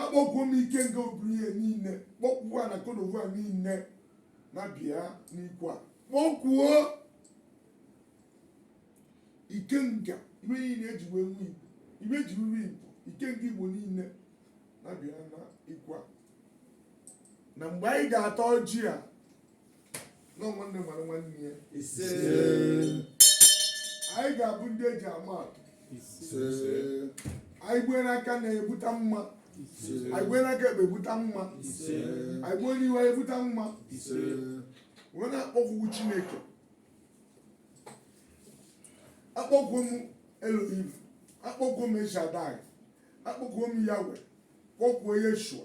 akpọkuo m ikenga oburu ihe niile kpọkuo ana kodovu a niile na bịa n'ikwu a kpọkuo ikenga iwe niile eji wee nwe igbo iwe ji nri igbo ikenga igbo niile na bịa na ikwu a na mgbe anyị ga-ata ọjị a na nwanne mara nwanne ya anyị ga-abụ ndị eji ama atụ anyị gbue n'aka nri ebuta mma anyị gbue n'aka ekpe ebuta mma anyị gbue n'ihu anyị ebuta mma wee na-akpọku chineke akpọkuo m elohim akpọkuo m el shaddai akpọkuo m yahweh kpọkuo yeshua